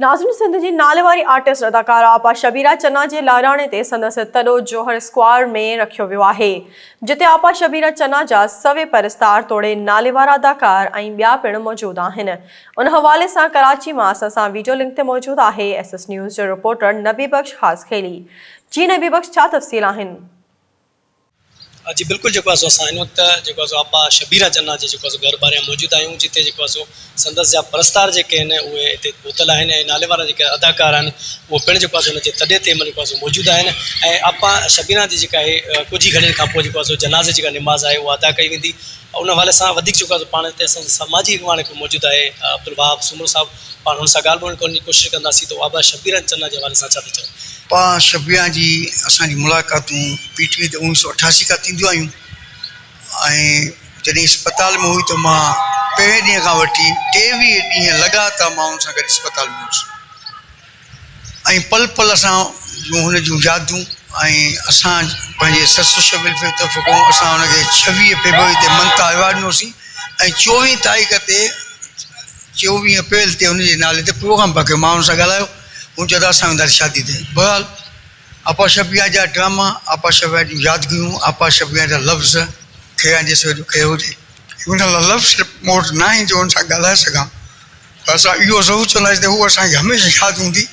ناظرين سنڌ جي ناليواري آرٽسٽ اداڪارا آپا شبيرا چنا جي لاڙاڻي تي سندس تڏو جوهر اسڪوائر ۾ رکيو ويو آهي جتي آپا شبيرا چنا جا سوين پرستار توڙي ناليوارا اداڪار ۽ ٻيا پڻ موجود آهن ان حوالي سان ڪراچي مان اسان سان ويڊيو لنڪ تي موجود آهي ايس ايس نيوز جو رپورٽر نبي بخش خاصخيلي جي نبي بخش ڇا تفصيل آهن. جي بلڪل جيڪو آهي سو اسان هن وقت جيڪو آهي سو آپا شبيره جناح جي جيڪو آهي سو گهر ٻاهريان موجود آهيون جتي جيڪو آهي سو سندس جا پرستار جيڪي آهن اهي هتي پهتل آهن ۽ ناليوارا جيڪي اداڪار آهن اهي پڻ جيڪو آهي سو هن جي تڏي تي جيڪو آهي سو موجود آهن ۽ آپا شبيره جي جيڪا آهي ڪجهه ئي گهڙين کانپوء جيڪو آهي سو جنازي جي جيڪا نماز آهي اها ادا ڪئي ويندي ان حوالي سان وڌيڪ جيڪو آهي سو پاڻ هتي اسان سان سماجي اڳواڻ هڪ موجود آهي عبدالوهاب سومرو صاحب پاڻ هن سان ڳالهه ٻولهه ڪرڻ جي ڪوشش ڪنداسين ته هو آباد شبيران چنا جي حوالي سان ڇا ٿا چون. پاڻ شبيران جي اسان جي ملاقاتون پي ٽي وي تي اوڻيهه سؤ اٺاسي کان ٿينديون آيون ۽ جڏهن اسپتال ۾ هئي ته مان پهرين ڏينهن کان وٺي ٽيويهه ڏينهن لڳاتار مان هن سان گڏ اسپتال ۾ هوس. ۽ پل پل اسان جون هن جون يادون ۽ اسان پنهنجي سسٽر شبيل فيض طرفان ڪون اسان هن کي ڇويهه فيبروري تي ممتا ايوارڊ ڏنوسين ۽ چوويهه تاريخ تي چوويهه اپريل تي هن جي نالي تي پروگرام پيا ڪيون مان هن سان ڳالهايو هن چيو ته اسان وينداسين شادي تي بهرحال آپا شبيها جا ڊراما آپا شبيها جون يادگيون آپا شبيها جا لفظ کيران جيسو ايڏو کير هجي. هن لفظ مون وٽ ناهن جو هن سان ڳالهائي سگهان. ته اسان اهو ضرور چونداسين ته هوء اسان کي هميشه ياد هوندي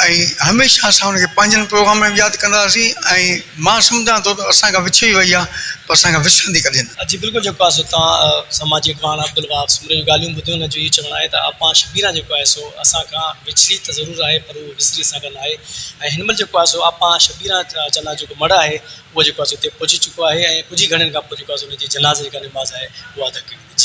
۽ هميشه اسان هن کي پنهنجن پروگرامن ۾ به ياد ڪنداسين ۽ مان سمجهان ٿو ته اسان کان وڇڙي وئي آهي پر اسان کان وسرندي ڪڏهن نه. جي بلڪل جيڪو آهي سو توهان سماجي اڳواڻ عبدالوهاب سومري جون ڳالهيون ٻڌيون هن جو اهو چوڻ آهي ته اپا شبينا جيڪو آهي سو اسان کان وڇڙي ته ضرور آهي پر هوء وسري اسان کان ناهي ۽ هن مهل جيڪو آهي سو اپا شبينا چنا جو جيڪو مڙهه آهي اهو جيڪو آهي سو اتي پهچي چڪو آهي ۽ ڪجهه ئي گهڙين کان پوء جيڪو آهي سو ان جي جنازي جيڪا نماز آهي اها ادا ڪئي ويندي.